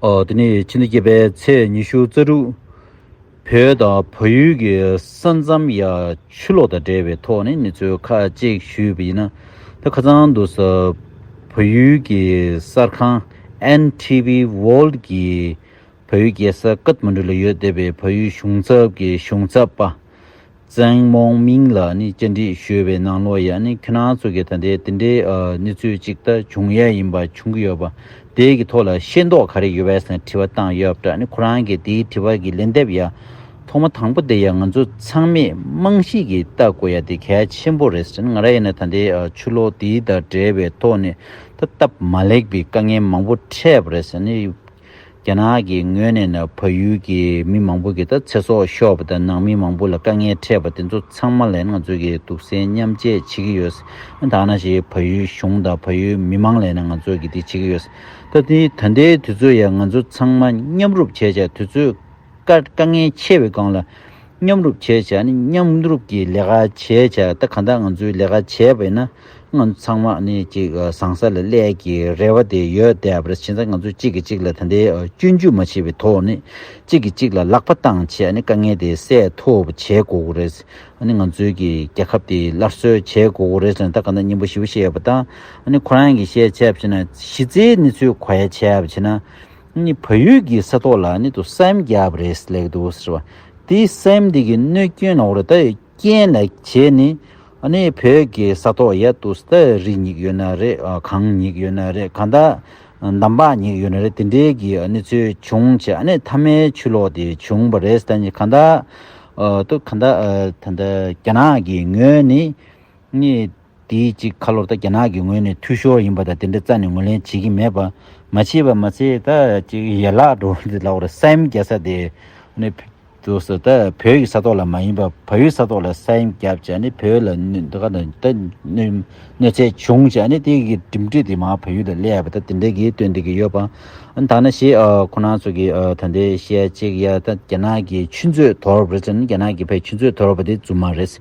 དེ་ནི་ཕྱི་ཟླ་བརྒྱད་པའི་ཚེས་ཉི་ཤུ་རྩ་དྲུག་བོད་དང་བལ་ཡུལ་གྱི་ས་མཚམས་ཡ་ཆུ་ལོག་དང་འབྲེལ་བའི་ཐོག་ནས་མི་ཚོས་ཁ་ལྕེག་ཞུས་པ་ཡིན། ད་ཁ་ཚང་དུ་བལ་ཡུལ་གྱི་གསར་ཁང NTV World གྱིས་བལ་ཡུལ་རྒྱལ་ས་ཀཱཏ་མན་གྲུ་ལ་ཡོད་སྡེ་པའི་བལ་ཡུལ་གཞུང་ཚབ་ཀྱི་གཞུང་ཚབ་པ་ཙེང་མོང་མིང་ལ་ནི་སྤྱི་འགྲིག་ཞུས་པའི་ནང་ལོ་ཡ་ནི་ཁྱི་ནང་ཚུགས་ཀྱི་ད་ལྟའི་དེ་འདྲའི་གནས་ཚུལ་གཅིག་ལྟ་བྱུང་ཡས་ཡིན་པ་བྱུང་གི་ཡོད་པ་དེ་གི་ཐོག་ལ་ཤེས་མདོག་ག་རེ་ཡོད་བས་སེང་དྲི་བ་བཏང་ཡོད་པ་འདྲ་ནི་ཁོ་རང་གི་དེའི་དྲི་བ་གི་ལན་འདེབས་ཡ་ཐོག་མ་དང་པོ་དེ་ཡ་ང་ཚོ་ཚང་མས་རྨང་གཞིས་ཀྱི་ལྟ་དགོས་ཡ་དེ་གལ་ཆེན་པོ་རེད་ཟེར་ནི་ང་ར་ཡ་ནི་ད་ལྟའི་ཆུ་ལོག་དེའི་དང་འབྲེལ་བའི་ཐོག་ནས་ད་སྟབས་མ་ལེགས་པའི་དཀའ་ངལ་མང་པོ་འཕྲད་པ་རེད་ཟེར་ནི་རྒྱ་ནག་གི་ངོས་ནས་ནི་ཕ་ཡུལ་གྱི་མི་མང་པོ་གི་ད་ཚེ་སྲོག་ཤོར་བ་དང་ནང་མི་མང་པོ་ལ་དཀའ་ངལ་འཕྲད་པ་དེ་ཚོ་ཚང་མ་ལས་ང་ཚོས་ཀྱི་སྡུག་སྲན་མཉམ་བཅད་བྱེད་ཀྱི་ཡོད། ད་ང་ཞིག་ཕ་ཡུལ་གཞུང་དང་ཕ་ཡུལ་མི་མང་ལས་ནི་ང་ཚོས་ཀྱི་དེ་བྱེད་ཀྱི་ཡོད། ད་ད་ལྟའི་དུས་ཚོད་ཡ་ང་ཚོ་ཚང་མ་མཉམ་རུབ་བྱས་བྱས་དུས་ཚོད། དཀའ་ངལ་ཆེ་བའི་སྒང་ལ་མཉམ་རུབ་བྱེད་བྱ་ནི་མཉམ་རུབ་ཀྱི་ལས་ཀ་བྱེད་བྱ་ད་ག་ད་ང་ཚོའི་ལས་ཀ་བྱེད་པས་ན་ང་ཚོ་ཚང་མ་ནི་གཅིག་བཟང་ས་ལ་ཀླད་ཀྱི་རེ་བ་དེ་ཡོད་དེ་བར་ཕྱིན་ཚ་ང་ཚོ་གཅིག་གིས་གཅིག་ལ་ད་ལྟའི་སྐྱོན་བརྗོད་མ་བྱས་པའི་ཐོག་ནས་གཅིག་གིས་གཅིག་ལ་ལག་པ་བཏང་བྱས་ནི་དཀའ་ངལ་དེ་སེལ་ཐུབ་བྱེད་དགོས་དགོས་རེད་ནི་ང་ཚོའི་གི་རྒྱལ་ཁབ་དེ་སླར་གསོས་བྱེད་དགོས་དགོས་རེད་ལ་ད་ག་ད་སྙིང་པོ་ཞིབ་བཤད་བྱས་པ་དང་ནི་ཁོ་རང་གིས་བཤད་བྱས་བྱས་ན་གཞི་རྩའི་ནི་ཚུལ་གོ་ཡ་བྱས་བྱས་ན། ནི་བོད་ཡུལ་གྱི་ས་ཐོག་ལ་ནི་དུ་སེམས་རྒྱབ་རེས་ལེགས་འདུག་ཟེར་བ་དེ་སེམས་འདི་གི་གནོད་སྐྱོན་ནོར་བ་དེ་རྐྱེན་ལེགས་བྱས་ནི་ནི་བོད་ཀྱི་ས་ཐོག་ཡ་དུ་ས་རི་ཉིག་ཡོད་ན་རེ་གངས་ཉིག་ཡོད་ན་རེ་ག་ད་འདམ་བག་ཉིག་ཡོད་ན་རེ་དེ་འདྲའི་གི་ནི་ཚུལ་བྱུང་བྱས་ནི་མཐའ་མའི་ཆུ་ལོག་དེ་བྱུང་བ་རེས་ད་ནི་ག་ད་དུ་ག་ད་ད་ད་རྒྱ་ནག་གི་ངོས་ནི་ནི། དེའི་གཅིག་ཁ་ལོ་ད་རྒྱ་ནག་གི་ངོས་ནས་འཐུས་ཤོར་ཡིན་པ་དང་དེ་འདྲ་རྩ་ནས་ངོས་ལེན་བྱེད་ཀྱི་མེད་པ། མ་བྱས་པ་མ་ཚད་ད་གཅིག་ཡན་ལག་འགྲོ་བ་འདི་ལ་བར་སེམས་རྒྱ་ས་དེ་ནི་དུ་ས་ད་བོད་ཀྱི་ས་ཐོག་ལ་མ་ཡིན་པ་ཕ་ཡུལ་ས་ཐོག་ལ་སེམས་རྒྱ་བྱས་ནས་བོད་ལ་གནོད་འགག་ད་གནོད་ཚད་བྱུང་བྱས་ནས་དེ་གི་གྲིམ་འགྲིག་དེ་མ་ཕ་ཡུལ་ལ་སླེ་བ་ད་དེ་འདྲ་གི་སྟོན་འདི་གི་ཡོད་པ་ད་ན་ཞེས་ཁོ་ན་ཚོ་གི་ད་ལྟའི་བཤད་གཅིག་ཡ་ད་རྒྱ་ནག་གི་ཆུ་མཛོད་དོར་བ་རེད་ཟེར་ན་རྒྱ་ནག་གི་བས་ཆུ་མཛོད་དོར་བ་དེ་རྫུན་མ་རེད།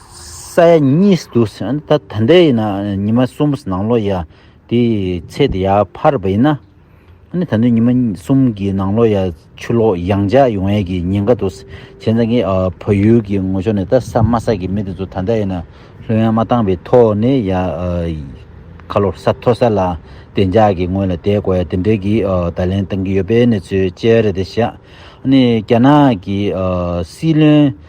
ས་ཡ་གཉིས་སུ་འདུག་ཟེར་ན་ད་ལྟ་ཡིན་ན་ཉི་མ་གསུམ་ནང་ལོགས་ཡ་དེ་ཚེ་འདི་ཡར་འཕར་བ་ཡིན་ན། ད་དུང་ཉི་མ་གསུམ་གྱི་ནང་ལོགས་ཡ་ཆུ་ལོག་ཡང་འཇགས་ཡོང་ཡས་ཀྱི་ཉེན་ཁ་འདུག་བྱས་ཙང་ངས་བོད་ཡུལ་གྱི་ངོ་ཕྱོགས་ནས་ད་ས་དམའ་ས་ཀྱི་མི་དེ་ཚོ་ད་ལྟ་ཡིན་ན་ལྷོད་ཡངས་མ་བཏང་བའི་ཐོག་ནས་ཡ་ཁ་ལོ་ས་མཐོ་ས་ལ་བདེ་འཇགས་ཀྱི་ངོས་ལ་བསྡད་དགོས་ཡ་དེ་འདྲའི་གི་བརྡ་ལན་བཏང་གི་ཡོད་པའི་གནས་ཚུལ་བཅས་རེད་དེ་བཞག་ནས་རྒྱ་ནག་གི་སྲིད་བློན།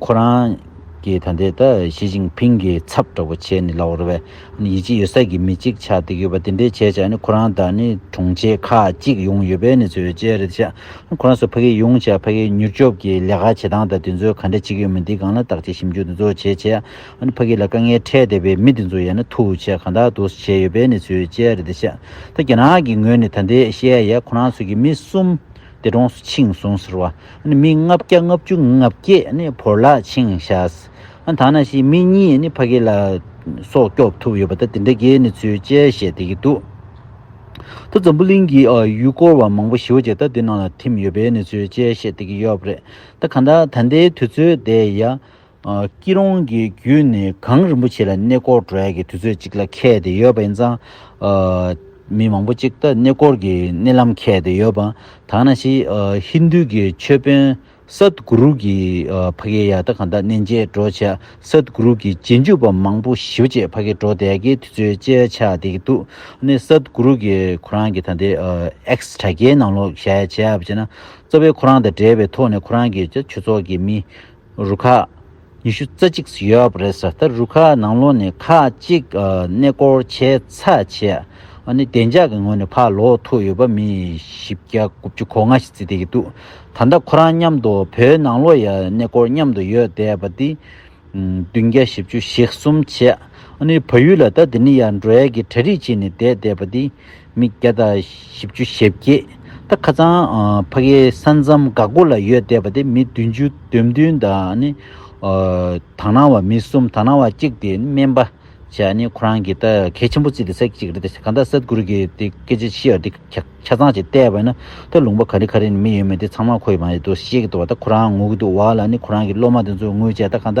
ཁོ་རང་གིས་ད་ལྟའི་ད་ཞི་ཅིང་ཕིང་གི་ཚབ་འདྲ་བོ་བྱས་ནས་ལ་འོར་བས་ཡིད་ཆེས་ཡོད་ས་ཀྱི་མི་གཅིག་ཆགས་བསྡད་ཡོད་པ་དེ་འདྲའི་བྱས་བྱས་ནས་ཁོ་རང་ད་ནི་དྲུང་ཆེ་ཁག་གཅིག་ཡོང་ཡོད་པས་ནི་ཚོས་བཅད་རེད་བྱས་ཁོ་རང་ཚོ་ཕ་གི་ཡོང་བྱས་ཕ་གི་མྱུར་སྐྱོབ་ཀྱི་ལས་ཀ་བྱེད་སྟངས་དང་དེ་ཚོས་ག་འདྲ་བྱེད་ཀྱི་ཡོད་མེད་འདི་གང་ལ་བརྟག་བྱེད་ཞིབ་འཇུག་དེ་ཚོ་བྱས་བྱས་ནས་ཕ་གི་ལ་དཀའ་ངལ་འཕྲད་བསྡད་པའི་མི་དེ་ཚོ་ཡ་ན་ཐུགས་ཆེ་གང་དག་ཏུ་བྱས་ཡོད་པས་ནི་ཚོས་བཅད་རེད་བྱས་ད་རྒྱ་ནག་གི་ངོས་ནས་ད་འདི་བཤད་ཡས་ཁོ་རང་ཚོ་གི་མི་གསུམ་དེ་གྲོངས་སུ་ཕྱིན་སོང་ཟེར་བ། མི་ལྔ་བརྒྱ་ལྔ་བཅུ་ལྔ་བརྒྱས་བོར་ལ་ཕྱིན་བཞག། ཐ་ན་ཞིག་མི་གཉིས་ཕ་གི་ལ་སོགས་སྐྱོབ་ཐུབ་ཡོད་པ་དང་དེ་འདྲ་འགའི་ནི་ཚུལ་དཔྱད་བཤད་བསྡད་ཀྱི་འདུག་ད་འཛམ་བུ་གླིང་གི་ཡུལ་སྐོར་བ་མང་པོ་ཞི་བ་རྗེ་ད་དུས་ནང་ལ་འཐིམས་ཡོད་པའི་ནི་ཚུལ་དཔྱད་བཤད་བསྡད་ཀྱི་ཡོད་རེད་ད་གང་ལྟར་ད་ལྟའི་དུས་ཚོད་དེ་ཡ། སྐྱིད་རོང་གི་བརྒྱུད་ནས་གངས་རིན་པོ་ཆེ་ལ་གནས་སྐོར་འགྲོ་ཡ་གི་དུས་ཚོད་ཅིག་ལ་ཁེལ་ཏེ་ཡོད་པ་ཡིན་ཙང། མི་མང་པོ་ཅིག་ད་གནས་སྐོར་གི་གནས་ལམ་ཁེལ་ཏེ་ཡོད་པ། དག་ན་ཤི་ཧིན་དྷུ་གི་ཆོས་དཔོན་སཱད་གུ་རུ་གི་ཕ་གི་ཡ་ད་ག་ད་གནས་མཇལ་འགྲོ་བྱས་སཱད་གུ་རུ་གི་རྗེས་འཇུག་པ་མང་པོ་ཞི་བ་བཅས་ཕ་གི་འགྲོ་བསྡད་ཀྱི་དུས་ཚོད་བཅས་ཆགས་བསྡད་ཀྱི་འདུག་གནས་སཱད་གུ་རུ་གི་ཁོ་རང་གི་ད་ལྟའི་ཨེགས་དྲ་རྒྱའི་ནང་ལོག་བཞག་ཡ་བྱས་ཡ་བྱས་ན། གཙོ་བོའི་ཁོ་རང་དང་འབྲེལ་བའི་ཐོག་ནས་ཁོ་རང་གི་ཆོས་ཚོགས་ཀྱི་མི། རུ་ཁག་ཉི་ཤུ་རྩ་གཅིག་སུ་ཡོད་པ་རེད་ས་ད་རུ་ཁག་ནང་ལོག་ནས་ཁག་གཅིག་གནས་སྐོར་བྱས་ཚར་བྱས་ཨ་ནི་བདེ་འཇགས་ཀྱི་ངོས་ནས་ཕར་ལོག་ཐུག་ཡོད་པ་མི་བཞི་བརྒྱ་དགུ་བཅུ་གོ་ལྔ་ཞིག་བརྩི་བསྡད་ཀྱི་འདུག་ད་ལྟ་ཁོ་རང་མཉམ་དུ་བོད་ནང་ལོག་ཡ་གནས་སྐོར་མཉམ་དུ་ཡོད་བསྡད་པ་འདི་བདུན་བརྒྱ་བཞི་བཅུ་ཞེ་གསུམ་བྱས་ཨ་ནི་བ་ཡུལ་ལ་ད་འདི་ནི་ཡར་འབྲོག་ཡ་གི་གྲ་རིགས་ཅིག་ནས་བསྡད་བསྡད་པ་འདི། མི་བརྒྱ་དང་བཞི་བཅུ་ཞེ་བརྒྱད་ད་ཁ་ཚང་ཕ་གའི་ས་མཚམས་འགག་སྒོ་ལ་ཡོད་བསྡད་པ་དེ་མི་བདུན་ཅུ་བདུན་བདུན་དང་ནི། དག་སྣང་བ་མི་གསུམ་དག་སྣང་བ་གཅིག་དེ་ནི་སྨན་པ་ཆེ་ནི་ཁོ་རང་གི་ད་གལ་ཆེན་པོ་རྩིས་ཏེ་ས་གཅིག་རེད་དེ་གང་ད་ས་དགུར་གི་དེ་སྐད་ཆ་ཤི་ཡར་དེ་ཆ་ཚང་ཅིག་བལྟས་པ་ན་ད་ལུང་པ་ག་རེ་ག་རེ་ནི་མི་ཡོད་མེད་དེ་ཚང་མ་ཁོ་ཡི་མ་ཡི་འདུག་ཤེས་ཀྱི་འདུག་བ་ད་ཁོ་རང་ངུ་གི་འདུག་བ་ལ་ནི་ཁོ་རང་གི་སློབ་མ་དེ་ཚོ་ངུ་བྱས་ད་གང་ད་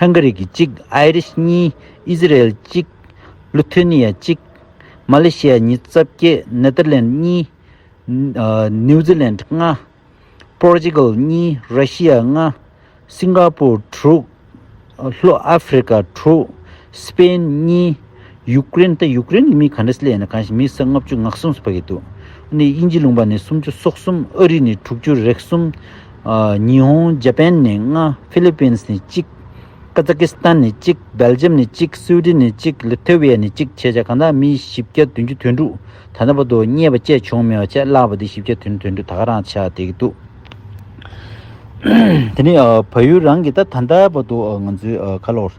ཧང་ག་རི་གི་གཅིག་ཨའི་རི་ཤི་གཉིས་ཨི་ཟི་རེལ་གཅིག་ལུ་ཐེ་ནི་ཡ་གཅིག་མ་ལེ་ཤི་ཡ་གཉིས་རྩ་བརྒྱད་ནེ་ཏར་ལན་གཉིས་ནིའུ་ཛི་ལན་ཏྲི་ལྔ་པོར་ཅི་གལ་གཉིས་ར་ཤི་ཡ་ལྔ་སིང་ག་པུར་དྲུག་ལྷོ་ཨ་ཕི་རི་ཀ་དྲུག་སི་པེན་གཉིས། ཡུག་ཀེ་རེན་དེ་ཡུག་ཀེ་རེན་གྱི་མི་ག་འདྲ་སི་ལ་ཡིན་ན་གང་ཞིག་མི་ས་ལྔ་བཅུ་ང་གསུམ་སི་ཕ་གི་འདུག་ཨ་ནི་དབྱིན་ཇི་ལུང་པ་ནས་སུམ་ཅུ་སོག་གསུམ་ཨ་རི་ནས་དྲུག་ཅུ་རེག་གསུམ་ཉི་ཧོང་ཇ་པན་ནས་ལྔ་ཕི་ལི་པིན་སི་ནས་གཅིག་ཀ་ཛ་ཀི་སི་ཐན་ནས་གཅིག་སྦེལ་ཇམ་ནས་གཅིག་སུའུ་ཏི་ནས་གཅིག་ལི་ཐེ་ཝི་ཡ་ནས་གཅིག་བྱས་བྱས་གང་དག་མི་བཞི་བརྒྱ་བདུན་ཅུ་དོན་དྲུག་ད་ལྟ་བར་དུ་རྙེད་པ་བཅས་བྱུང་མེད་པ་ཆད་བརླག་པ་འདི་བཞི་བརྒྱ་དོན་དོན་དྲུག་ད་ག་རང་ཆགས་བསྡད་ཀྱི་འདུག་དེ་ནི་བལ་ཡུལ་རང་གིས་ད་ད་ལྟ་བར་དུ་ང་ཚོའི་ཁ་ལོར།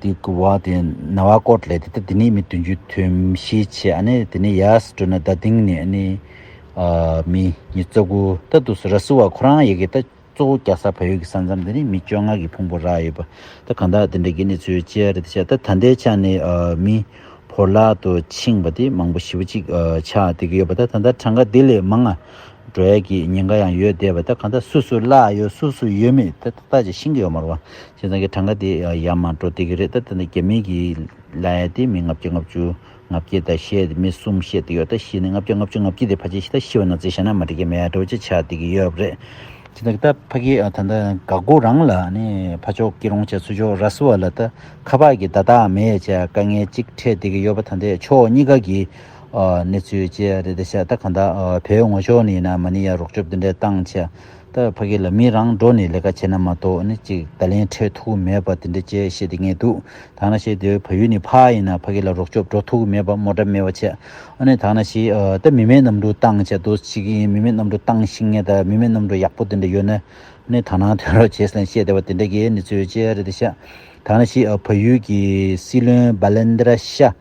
དེ་གི་བ་དེ་ན་བ་ཀོར་ལེ་དེ་ད་དེ་ནས་མི་དུན་ཅུ་ཐུན་བཞི་ཆེ་ཨ་ནེ་དེ་ནས་ཡ་སི་ཏྲུ་ན་ད་དིང་ནས་ཨ་ནེ་མི་ཉི་ཙོ་གུ་ད་དུ་སུ་ར་སི་བ་ཁོ་རང་ཡེ་གེ་ད་གཙོ་བོ་རྒྱ་སར་བལ་ཡུལ་གི་ས་མཚམས་དེ་ནས་མི་བཅོ་ལྔ་གི་ཕུང་པོ་རག་ཡོད་པ་ད་གང་དག་དེ་འདྲ་གི་གནས་ཚུལ་བཅས་རེད་ད་ཆ་ད་ད་ལྟའི་ཆ་ནས་མི་བོར་ལག་ཏུ་ཕྱིང་བ་དེ་མང་པོ་བཞི་བོ་ཅིག་ཆག་དེ་གི་ཡོད་པ་ད་ད་ལྟ་གྲངས་ཀ་དེ་ལས་མང་ང་འགྲོ་ཡ་གི་ཉེན་ཁ་ཡང་ཡོད་བསྡད་པ་ད་གང་དག་སུ་སུ་ལ་ཡོད་སུ་སུ་ཡོད་མེད་ད་ད་ཆ་ཤིང་གི་ཡོ་མར་བ་ཁྱེད་རང་གི་གྲངས་ཀ་དེ་ཡར་མར་འགྲོ་བསྡད་ཀྱི་རེད་ད་དེ་འདྲ་རྒྱ་མིའི་གིས་ལ་ཡ་དེ་མི་ལྔ་བརྒྱ་ལྔ་བཅུ་ལྔ་བརྒྱད་དང་ཤེས་ཡ་མི་གསུམ་བཤད་བསྡད་ཡོད་ད་ཤི་ནས་ལྔ་བརྒྱ་ལྔ་བཅུ་ལྔ་བརྒྱད་དེ་ཕ་ཅེ་ཤི་ད་ཤི་བ་ན་ཚེ་ཤ་ན་མ་འགྲིག་གི་མེ་ཡ་དྲོ་ཅེ་ཆགས་བསྡད་ཀྱི་ཡོད་རེད། ཁྱེད་རང་གི་ད་ཕ་གི་ད་ད་འགག་སྒོ་རང་ལ་ནས་ཕ་མཆོག་སྐྱིད་རོང་བྱས་ཚུལ་ཆོག་ར་བཟི་བ་ལ་ད་ཁ་བག་གི་ད་དག་མེ་ཡ་བྱས་དཀའ་ངལ་གཅིག་འཕྲད་བསྡད་ཀྱི་ཡོད་པ་ད་འདས་ཕྱོགས་གཉིས་ཀ་གི་གནས་ཚུལ་བཅས་རེད་ད་ཤ་ད་གང་ད་བོད་ངོ་ཕྱོགས་ནས་ཡིན་ན་མ་ནི་ཡ་རོགས་སྐྱོབ་དེ་འདྲ་བཏང་ཆ། ད་ཕ་གི་ལ་མི་རང་འགྲོ་ནས་ལས་ཀ་བྱེད་ན་མ་གཏོགས་ནི་ཅིག་ད་ལན་འཕྲད་ཐུག་གི་མེད་པ་དེ་འདྲ་བཅས་བཤད་དེ་ངས་འདུག་ད་ང་བཤད་དེ་ཕ་ཡུལ་ནི་ཕ་ཡིན་ན་ཕ་གི་ལ་རོགས་སྐྱོབ་འགྲོ་ཐུག་གི་མེད་པ་མོ་འདྲ་མེད་པ་བྱས་ཨ་ནི་ད་ང་ཞི་ད་མི་མེད་གནམ་གྲུ་བཏང་བྱས་དུ་ཅིག་ཡིན་མི་མེད་གནམ་གྲུ་བཏང་ཤིང་ངས་ད་མི་མེད་གནམ་གྲུ་ཡག་པོ་དེ་འདྲ་ཡོད་ན་ནི་ད་ནང་ཐོན་རོགས་བྱས་ལན་བཤད་དེ་བ་དེ་འདྲ་གས་ནི་ཚོས་བྱས་རེད་དེ་ཤ་ད་ང་ཞི་ཨ་ཕ་ཡུལ་གི་སྲིད་བློན་བ་ལན་འདྲ་ཤ།